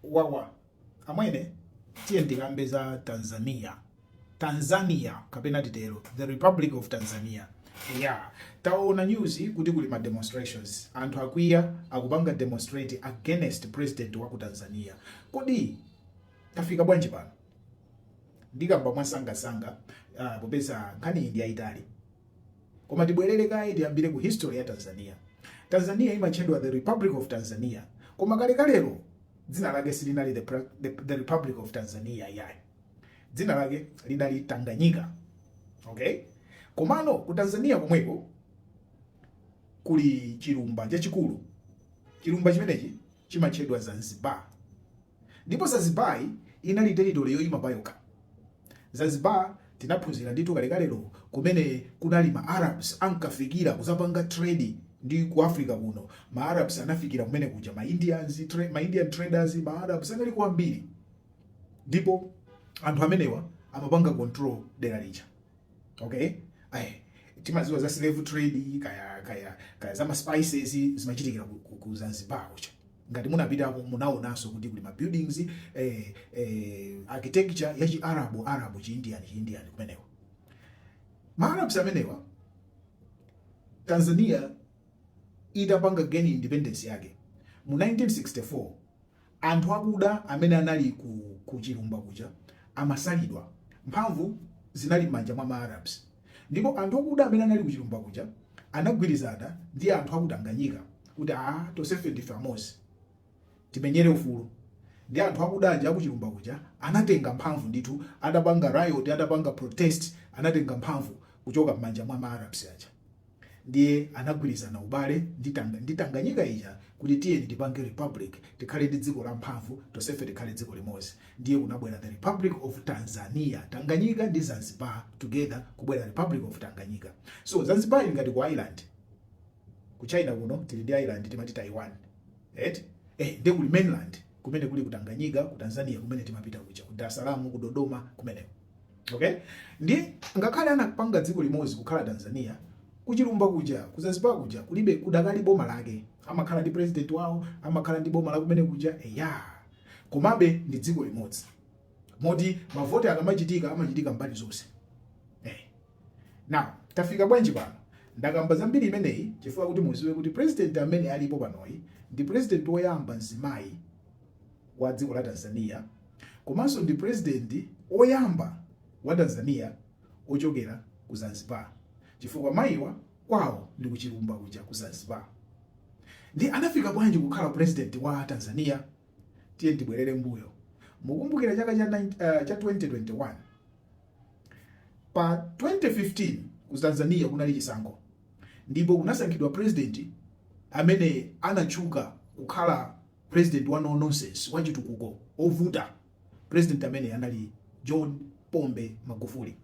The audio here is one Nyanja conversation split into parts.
wawa amwene tiye ndikambe za tanzania tanzania kapena titero the republic of tanzania ya taona news kuti kuli ma demonstrations anthu akwiya akupanga demonstrate against president wa ku tanzania kodi tafika bwanji pano ndikamba mwasangasanga uh, popeza nkhani iyi ndi yayitali Koma tibwerere kaye tiyambire ku history ya Tanzania. Tanzania imatchedwa the Republic of Tanzania. Koma kalekalero dzina lake silinali the, the, the Republic of Tanzania yayi. Dzina lake linali Tanganyika. Okay? Komano ku Tanzania komweko kuli chilumba chachikulu. Chilumba chimenechi chimatchedwa Zanzibar. ndipo Zanzibar inali territory yoima payokha. Zanzibar tinaphunzira ndithu kalekalero kumene kunali ma Arabs ankafikira kuzapanga trade ndi ku Africa kuno. Ma Arabs anafikira kumene kuja, ma Indians, tra ma Indian traders, ma Arabs anali kwambiri, ndipo anthu amenewa amapanga control dera lija okay ayi timaziwa za slave trade kaya kaya kaya za ma spices zimachitikira ku, ku, ku Zanzibar kuja ngati munapitako munaonanso kuti kuli ma buildings eh, eh, architecture ya chi arabu arabu chi indian chi indian kumeneko ma arabs amenewa tanzania itapanga gain independence yake mu 1964 anthu akuda amene anali ku, ku chilumba kuja amasalidwa mphamvu zinali m'manja mwa ma arabs Ndipo anthu akuda amene anali kuchilumba kuja anagwirizana ndi anthu aku Tanganyika kuti aah tonsefe ndife amodzi timenyere ufulu. Ndiye anthu akuda aja akuchilumba kuja anatenga mphamvu ndithu atapanga riot, atapanga protest anatenga mphamvu kuchoka m'manja mwa ma Arabs aja. Ndiye anagwirizana ubale ndi Tanga ndi Tanganyika ija kuti tiyeni tipange Republic tikhale ndi dziko la mphamvu tonsefe tikhale dziko limodzi ndiye kunabwera the Republic of Tanzania Tanganyika ndi Zanzibar together kubwera Republic of Tanganyika so Zanzibar ili ngati ku island ku China kuno tili ndi island timati Taiwan right eh ndi kuli mainland kumene kuli ku Tanganyika ku Tanzania kumene timapita kuja ku Dar es Salaam ku Dodoma kumene okay ndi ngakhale anapanga dziko limodzi kukhala tanzania kuchilumba kuja kuzanzibar kuja kulibe kudakali boma lake amakhala ndi president wawo amakhala ndi boma la kumene kuja eya komabe ndi dziko limodzi moti mavoti akamachitika amachitika mbali zonse hey. Eh. now tafika bwanji pano ndakamba zambiri imeneyi chifukwa kuti muziwe kuti president amene alipo panoyi ndi president woyamba mzimayi wa dziko la tanzania Komanso ndi president oyamba wa Tanzania ochokera ku Zanzibar chifukwa mayiwa kwawo ndi ku chilumba kuja ku Zanzibar. Ndiye anafika bwanji kukhala president wa Tanzania? Tiye ndibwerere mbuyo. Mukumbukira chaka cha 2021 pa 2015 ku Tanzania kunali chisankho ndipo kunasankhidwa president amene anatchuka kukhala President wa no nonsense wachitukuko ovuta president amene anali John Pombe Magufuli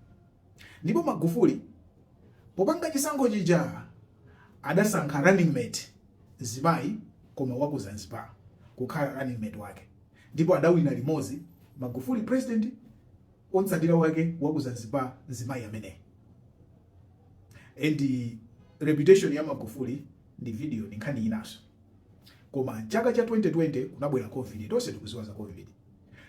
ndipo Magufuli popanga chisankho chija adasankha running mate mzimayi koma waku Zanzibar kukhala running mate wake ndipo adawina limozi Magufuli president omutsatira wake waku Zanzibar mzimayi ameneyi and reputation ya Magufuli ndi video ndi nkhani inaso Koma chaka cha 2020 kunabwera Covid, tonse tikuziwa za Covid.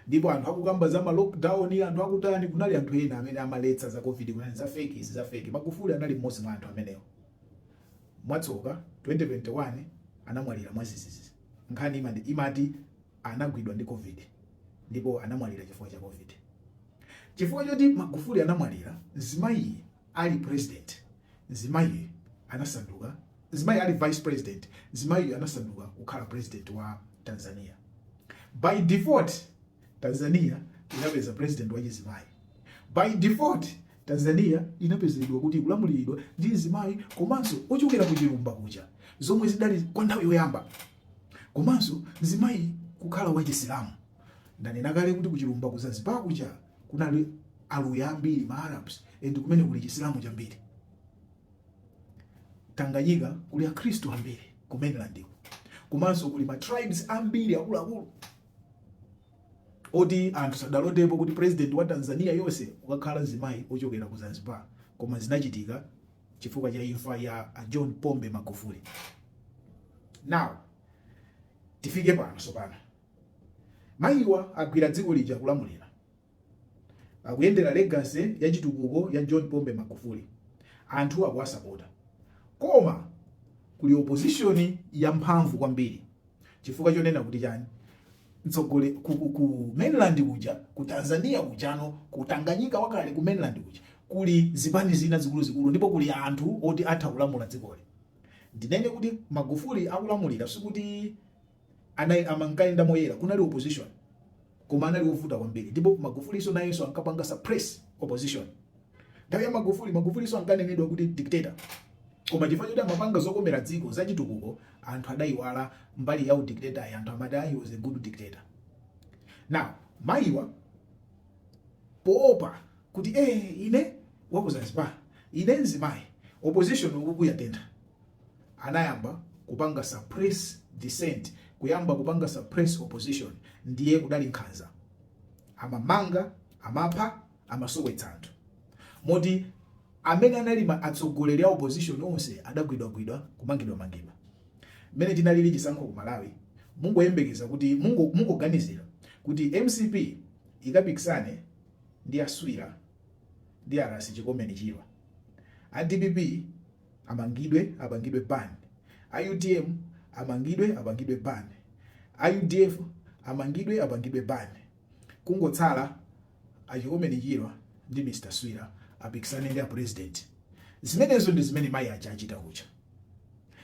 Ndipo anthu akukamba za ma lockdown, anthu akutani, kunali anthu ena amene amaletsa za Covid kunena za fake izi za fake. Magufuli anali mmodzi mwa anthu amenewo. Mwatsoka 2021 anamwalira mwazizizi. Nkhani imati anagwidwa ndi Covid ndipo anamwalira chifukwa cha Covid. Chifukwa choti Magufuli anamwalira, mzimayi ali president Mzimayi anasanduka Mzimayi ali vice president Mzimayiyu anasanduka kukhala president wa Tanzania By default Tanzania inapeza president wa chizimayi By default Tanzania inapezedwa kuti ikulamuliridwa ndi mzimayi komanso ochokera ku chilumba kuja zomwe zidali kwa nthawi yoyamba komanso mzimayi kukhala wa chisilamu ndanena kale kuti ku chilumba ku Zanzibar kuja kunali aluya ambiri ma arabs ndi kumene kuli chisilamu chambiri tanganyika kuli akhristu ambiri ku mainland komanso kuli ma tribes ambiri akuluakulu oti anthu sadalotepo kuti president wa tanzania yonse ukakhala mzimayi ochokera ku zanzibar koma zinachitika chifukwa cha imfa ya john pombe magufuli now tifike pano sopano Mayiwa agwira dziko lija akulamulira. Akuyendera legacy ya chitukuko ya John Pombe Magufuli. Anthu akuwasapota. Koma kuli opposition ya mphamvu kwambiri. Chifukwa chonena kuti chani? Mtsogoleri ku, ku, ku mainland kuja, ku Tanzania kujano, ku Tanganyika wakale ku mainland kuja. Kuli zipani zina zikuluzikulu ndipo kuli anthu oti atha kulamula dzikoli. Ndinene kuti Magufuli akulamulira sikuti anayi amankayenda moyera kunali opposition koma anali ovuta kwambiri ndipo magufulinso nayenso ankapanga suppress opposition nthawi ya magufuli magufulinso ankanenedwa kuti dictator koma chifukwa choti amapanga zokomera dziko zachitukuko anthu adayiwala mbali ya udictator yo anthu amati he was a good dictator now mayiwa poopa kuti eh ine wakuzanzibar ine nzimayi opposition ukukuyatentha anayamba kupanga suppress dissent kuyamba kupanga suppress opposition ndiye kudali nkhanza amamanga amapha amasowetsa anthu moti amene anali ma- atsogoleri a opposition onse adagwidwagwidwa kumangidwa mangidwa mmene tinalili chisankho ku malawi mungoyembekeza kuti mungo- mungoganizira kuti mcp ikapikisane ndi aswira ndi a ras chikomeni chirwa a dpp amangidwe apangidwe ban, a utm amangidwe apangidwe ban, a udf amangidwe apangidwe ban, kungotsala a Chikomeni Chirwa ndi Mr Swira apikisane ndi a president. Zimenezo ndi zimene mayi aja achita kuja.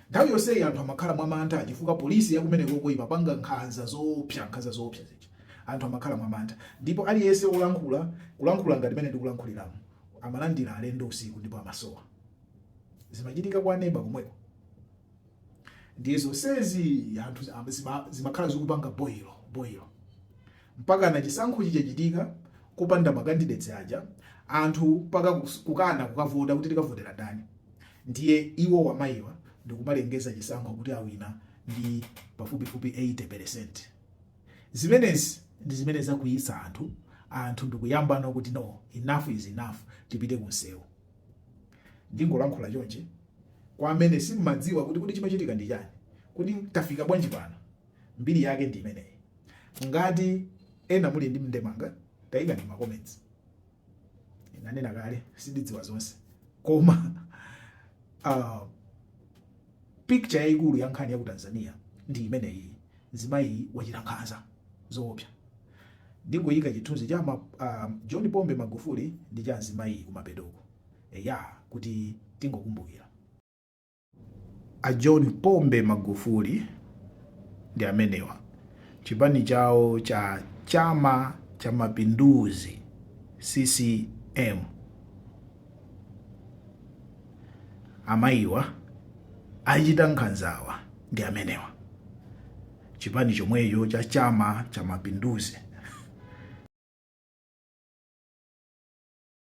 Nthawi yonseyi anthu amakhala mwamantha chifukwa polisi ya kumeneko imapanga nkhanza zoopsa, nkhanza zoopsa zija anthu amakhala mwamantha, ndipo aliyense wolankhula kulankhula ngati mmene ndikulankhuliramu amalandira alendo usiku ndipo amasowa. zimachitika kwa neba komweko ndiye zonsezi anthu zima- zima- zimakhala zikupanga boilo boilo mpaka na chisankho chachitika kupanda makandidates aja anthu mpaka kus- kukana kukavota kuti tikavotera ndani ndiye iwo amayiwa ndikumalengeza chisankho kuti awina ndi pafupifupi 80 percent zimenezi ndi zimene zakwiyitsa anthu anthu ndikuyambano kuti no enough is enough tipite kunsewu Ndingolankhula chonchi kwa amene simumadziwa kuti kodi chimachitika ndi chani, kuti tafika bwanji pano, mbiri yake ndi imeneyi. Ngati ena muli ndi ndemanga taikani mma comments. Ndanena kale sindidziwa zonse koma uh, picture yaikulu ya nkhani ya ku Tanzania ndi imeneyi, mzimayi wachita nkhanza zoopsa. Ndingoyika chithunzi cha ma, a, John Pombe Magufuli ndi cha mzimayiyi kumapeto uku. Eya, kuti tingokumbukira. A John Pombe Magufuli ndi amenewa. Chipani chawo cha Chama cha Mapinduzi, CCM. Amayiwa achita nkhanzawa ndi amenewa. chipani chomwecho cha Chama cha Mapinduzi.